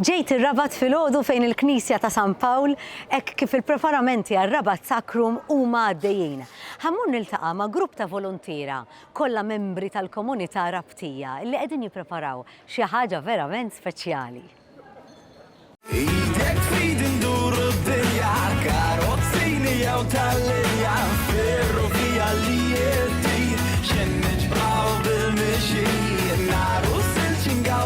Ġejt ir-Rabat filgħodu fejn il-Knisja ta' San Pawl hekk kif il-preparamenti għar-Rabat Sacrum huma għaddejjin. Ħa mmur niltaqa' ma' grupp ta' voluntiera, kollha membri tal-komunità Rabtija, li qegħdin jippreparaw xi ħaġa verament speċjali. Idek f'idi nduru d-dinja, karozzini jew tal-linja, ferrovija li jien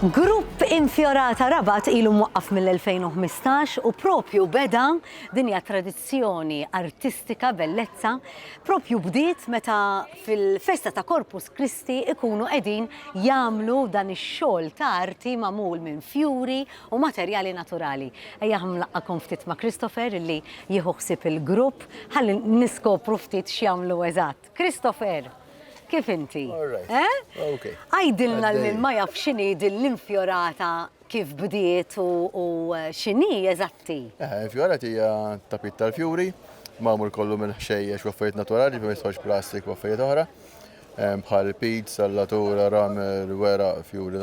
Grupp Infjorata Rabat ilu mwaqqaf mill-2015 u propju beda din hija tradizzjoni artistika bellezza propju bdiet meta fil-festa ta' Corpus Christi ikunu qegħdin jagħmlu dan ix-xogħol ta' arti magħmul minn fjuri u materjali naturali. Ejjaħ nlaqqakom ftit ma' Christopher illi jieħu ħsieb il-grupp ħalli niskopru ftit x'jagħmlu eżatt. Christopher, kif inti? Għidilna lil ma jaf x'inhi din l-infjorata kif bdiet u x'inhi eżatti? Infjorata hija tapit tal-fjuri, magħmul kollu minn ħxejjex u affarijiet naturali, ma jistgħux plastik u affarijiet oħra, bħal pid, sallatura, ramer, weraq, fjuri,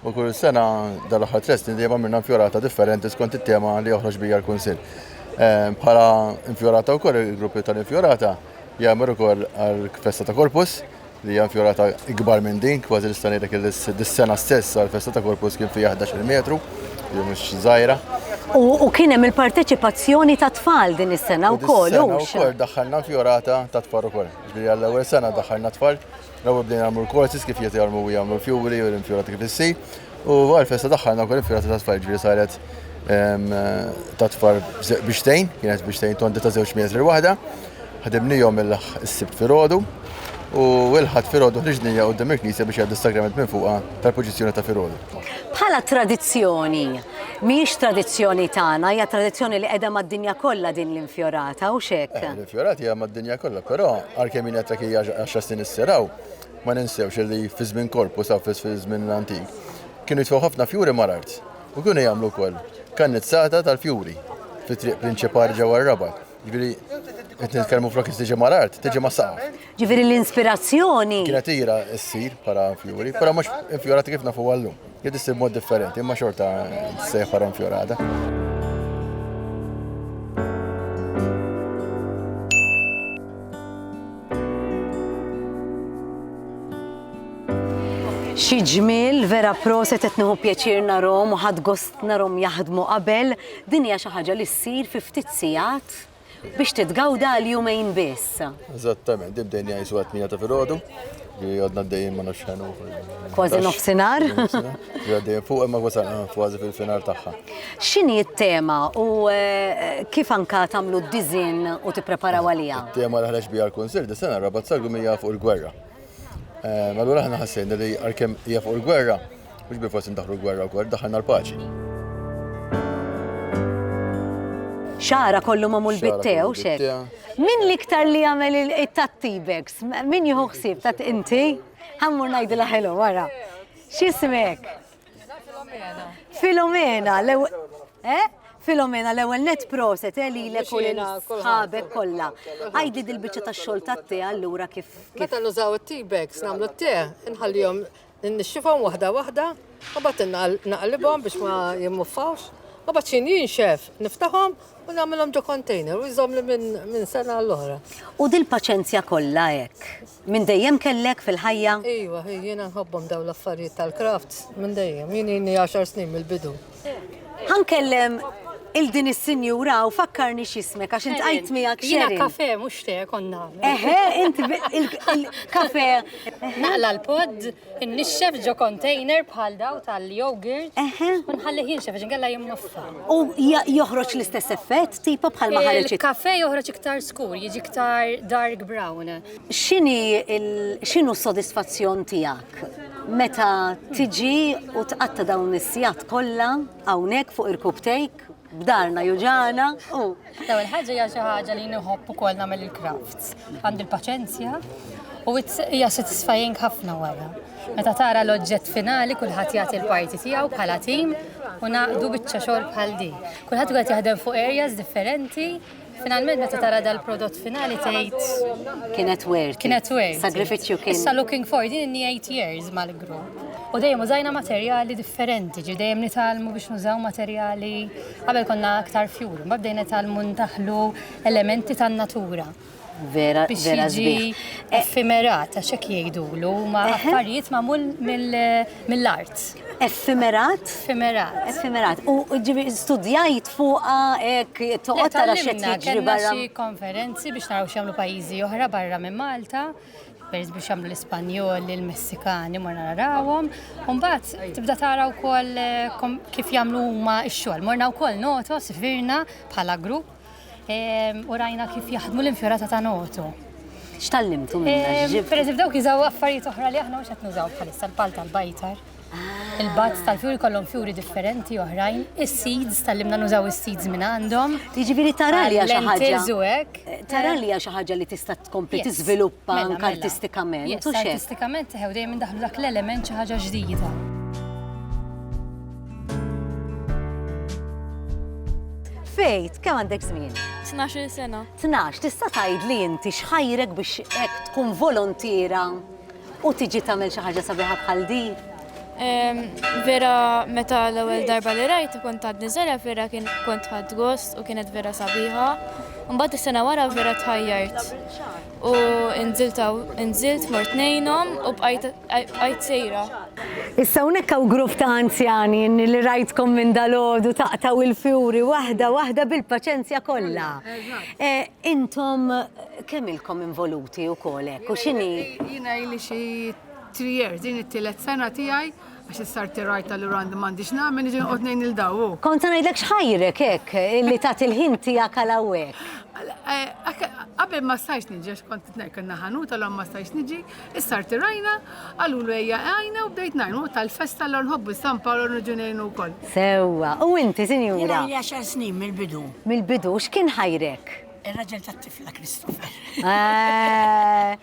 U kull sena dal-aħħar tres snin dejjem għamilna fjorata differenti skont it-tema li joħroġ bija l-Kunsill. Eh, bħala infjorata wkoll il-gruppi tal-infjorata jagħmel ukoll għall-festa ta' Korpus li hija fjorata ikbar minn din, kważi nista' ngħidlek dis-sena stess għall-festa ta' Korpus kien fiha 11 metru, jew mhux żgħira. U kien hemm il-parteċipazzjoni ta' tfal din is-sena wkoll. Ukoll daħħalna fjorata ta' tfal ukoll. Ġifieri għall-ewwel sena daħħalna tfal L-ewwel bdejna nagħmlu l-courses kif jiet jarmu u jagħmlu l-fjuri u l-infjurati kif issi. U għal-festa daħħalna wkoll infjurati ta' tfal ġifieri saret ehm, ta' tfal bixtejn, kienet bixtejn tondi ta' żewġ metri l-waħda. Ħadimnijhom il-sibt filgħodu u l-ħadd filgħodu ħriġnija quddiem il-knisja biex jgħaddu s-sagrament minn fuqha tal-poġizzjoni ta' filgħodu. Bħala tradizzjoni, Mhijiex tradizzjoni tagħna, hija tradizzjoni li qiegħda mad-dinja kollha din l-infjorata, hux hekk? Eh, l-infjorata hija mad-dinja kollha, però għalkemm jien qed hija għaxar snin isseraw, ma ninsewx li fi żmien korpu sa fi żmien l-antik kienu jitfgħu ħafna fjuri mal-art u kienu jagħmlu wkoll kannizzata tal-fjuri fit-triq prinċipali ġewwa r-Rabat. Ġviri, qed nitkellmu flok tiġi mal-art, tiġi ma' saqaf. Ġviri l-inspirazzjoni. Kienet ira ssir bħala fjuri, però mhux infjorati kif nafu għallum. Jed issir mod differenti, imma xorta sejħ bħala infjorata. Xi ġmiel vera proset qed nieħu pjaċir narhom u ħadd gost narhom jaħdmu qabel Din hija xi ħaġa li ssir fi ftit sigħat biex titgawda għal jumejn biss. Eżattament, din bdejna jgħisu għat tmija ta' filgħodu, li għadna d-dejjem ma nafx ħenu. Kważi nofsinhar. Għaddejjem fuq imma wasal kważi fil-finar tagħha. X'inhi t-tema u eh, kif anka tagħmlu d-diżin u tippreparaw għaliha? Tema li ħreġ biha l-Kunsill dis-sena rabat sagru mija fuq il-gwerra. Eh, allura aħna ħassejna li għalkemm hija fuq il-gwerra, mhux bil forsi ndaħlu l-gwerra wkoll, daħħalna l-paċi. Xara kollu ma' mul-bittew, xek. Min liktar li għamel il-tatti bags? Min jħuħsib, tat inti? Għammur najdi laħelu, wara. Xismek? Filomena, eh? Filomena l-ewwel net proset eh, li l ħabek kollha. Għajdi dil-biċċa tax-xogħol tat-te allura kif. Meta nużaw it-tea bags nagħmlu t-te, nħallihom nixxifhom waħda waħda, u bat naqlibhom biex ma jimmuffawx. U bat xin jinxef, niftaħom u namilom ġo container u jżom li minn sena l-oħra. U dil-paċenzja kollha hekk. Minn dejjem kellek fil-ħajja? Iva, hi, jiena nħobbhom dawn l-affarijiet tal-crafts minn dejjem. Jien ilni għaxar snin mill-bidu. Ħa nkellem 'il din is-sinjura hawn, fakkarni x'ismek għax intqajt miegħek Sheryl. Jiena kafe mhux te kont nagħmel. Eħe, int il-kafe. Naqla' l-pod. Innixxef ġo container bħal daw tal-yogurt. Eħe. U nħallih jinxef għax inkella jimmoffa. U ja- joħroġ l-istess effett, tipo bħal ma ħareġ Il-kafe joħroġ iktar skur, jiġi iktar dark brown. X'inhi il- x'inhu s-sodisfazzjon tiegħek meta tiġi u tqatta' dawn is-sigħat kollha hawnhekk fuq irkub tejk? b'darna juġana u. Daw il-ħagġa hija xi ħaġa li nħobb ukoll nagħmel il-crafts. Għandi l-paċenzja u hija satisfying ħafna wara. Meta tara l-oġġett finali kulħadd jagħti l-parti tiegħu bħala tim u naqdu biċċa xogħol bħal din. Kulħadd qed jaħdem fuq areas differenti Finalment meta tara dal-prodott finali tgħid kienet worth. Kienet worth. Sagrifiċċju kien. Issa looking for din inni 8 years mal-grupp. U dejjem użajna materjali differenti, ġi dejjem nitalmu biex nużaw materjali qabel konna aktar fjur, ma bdejna nitalmu ntaħlu elementi tan-natura. Vera, vera zbieħ. Effimerat, għax hekk jgħidulu, ma affarijiet magħmul mill-art. Effimerat? Effimerat. Effimerat. U ġibi studjajt fuqa hekk toqgħod tara xi jiġri barra. Xi konferenzi biex naraw x'jagħmlu pajjiżi oħra barra minn Malta pereż biex jagħmlu l-Ispanjol, il-Messikani ma narawhom. Mbagħad tibda tara wkoll eh, kif jagħmlu huma x-xogħol. Morna wkoll notos firna bħala grupp u rajna kif jaħdmu l-infjorata ta' notu. X'tallimtu minna? Per eżempju, dawk jizaw affarijiet oħra li aħna mhux qed nużaw bħalissa l-pal tal-bajtar. Ah. Il-bazz tal-fjuri kollhom fjuri differenti oħrajn, is-seeds tal-limna nużaw is-seeds minn għandhom. Jiġifieri tara li xi ħaġa. Eh, tara li xi ħaġa li tista' tkompli tiżviluppa mela, anke mela. artistikament. Artistikament teħew dejjem daħlu dak l-element xi ħaġa ġdida. Fejt, kemm għandek żmien? 12 sena. 12, tista' tgħid li inti xħajrek biex hekk tkun volontira u tiġi tagħmel xi ħaġa sabiħa bħal di? Vera meta l-ewwel darba li rajt kont għad niżela vera kien kont ħadd gost u kienet vera sabiħa. Mbagħad is-sena wara vera tħajjart. U nżilt hawn, nżilt mort ngħinhom u bqajt bqajt sejra. Issa hawnhekk hawn grupp ta' anzjani li rajtkom minn dalgħodu taqtgħu l-fjuri waħda waħda bil-paċenzja kollha. Intom kemm ilkom involuti wkoll hekk u x'inhi? Jiena ili xi three years, din it-tielet sena tiegħi. Għax is-sarti rajtha li randi m'għandix nagħmel niġi noqgħod ngħin lil daw hu. Kont se ngħidlek x'ħajrek hekk li tagħti l-ħin tiegħek għal hawnhekk. Eh, qabel ma stajx niġi għax kont qed ngħid kellna ħanut għalhom ma stajx niġi, is-sarti rajna, qalulu ejja għajna u bdejt ngħin u tal-festa l nħobbu San Paolo niġu ngħinu wkoll. Sewwa, u inti sinjura? Jiena li għaxar snin mill-bidu. Mill-bidu x'kien ħajrek? Ir-raġel tat-tifla Christopher. Eh,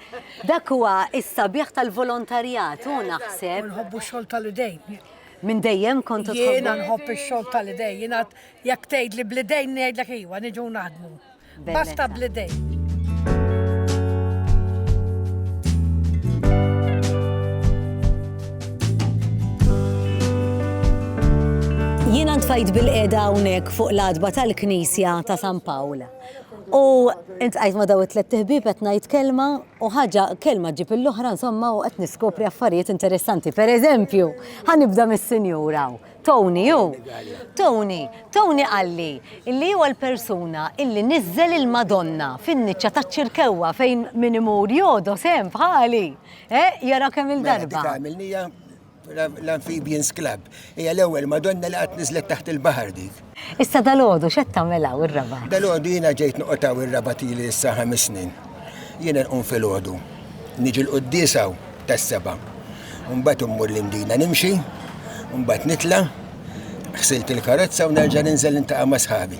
dak huwa is-sabiħ tal-volontarjat u naħseb. Nħobbu xogħol tal-idejn. Minn dejjem kontu tħobbu. Jiena nħobb ix-xogħol tal-idejn, jiena jekk tgħid li bl-idejn ngħidlek iwa niġu naħdmu. Basta bl-idejn. Jiena ntfajt bil-qeda hawnhekk fuq l-adba tal-Knisja ta' San Pawl. U intqajt ma' daw it-tlet tiħbib qed ngħid kelma u ħaġa kelma ġib l-oħra insomma u qed niskopri affarijiet interessanti. Per eżempju, ħanibda mis-sinjura. Tony hu. Tony, Tony qalli illi huwa l-persuna illi niżżel il-Madonna fin-niċċa taċ-ċirkewwa fejn min imur jodos hemm bħali. Eh, jara kemm mela, il-darba. Dik għamilnija l-Amphibians Club. Hija l-ewwel Madonna li qatt niżlet taħt il-baħar dik. Issa dal-għodu x'qed tagħmilha ir-raba? Dal-għodu jiena ġejt noqgħodha ir-raba tieli issa ħames snin. Jiena nqum fil-għodu. Niġi l-quddisaw tas-seba'. Mbagħad immur l-imdina nimxi, mbagħad nitla' ħsilt il-karozza u nerġa' ninżel intaqa' ma' sħabi.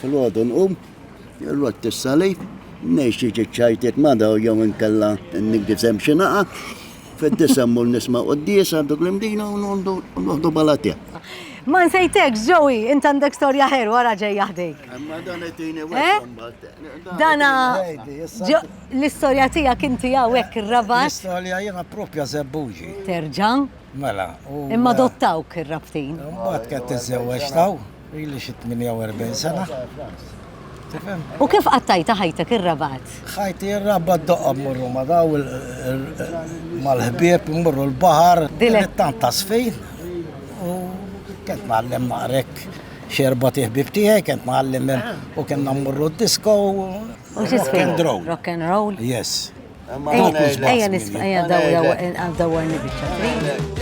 Filgħodu nqum, irrott is-salib, ngħix xi ċiċċajtiet ma' daw jew inkella niggisem xi naqa', fid-disa mmur nisma' quddies għandu Glimdina u noħdu balatja. Ma nsejtek, Joey, int għandek storja ħerwa ra ġej jaħdejk. Imma dan qedini eh? Dana l-istorja tiegħek inti hawnhekk ir-rabat. L-istorja jiena propja żebbuġi. Terġa'? Mela. Imma dottawk ir-rabtin. Mbagħad kien tiżewweġ taw. Ili xi 48 sena. Tifhem? U kif qattajta ħajtek ir-rabat? Ħajti ir-rabat doqqa mmorru ma daw mal-ħbieb mmorru l-baħar. Dilet tant tasfi. U kent nagħllem maqrek xerba tiħbib tiegħi, kent nagħllem u kien nammurru d-disco. U xi Rock and roll. Yes. Ejja nisma' ejja dawwar nibiċċa.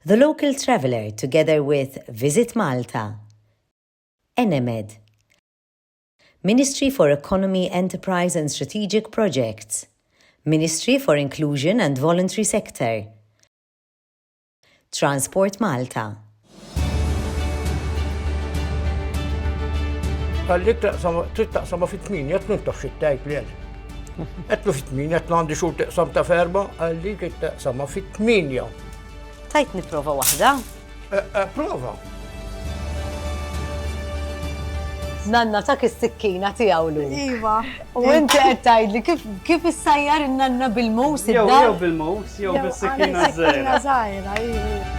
The Local Traveller together with Visit Malta, Enemed, Ministry for Economy, Enterprise and Strategic Projects, Ministry for Inclusion and Voluntary Sector, Transport Malta. Qalli taqsam, trid taqsam fit tmin jett minn tafx it-tajt li għal. Għetlu fit tmin jett għandi xur taqsam ta' ferba, qalli trid taqsam fit tmin jaw. Tajt niprofa wahda. Prova. Nanna ta' is-sikkina tiegħu lu. Iva. U inti qed tgħidli kif kif issajjar in-nanna bil-mus id Jew bil-mus jew bis-sikkina żgħira. Żgħira, iva.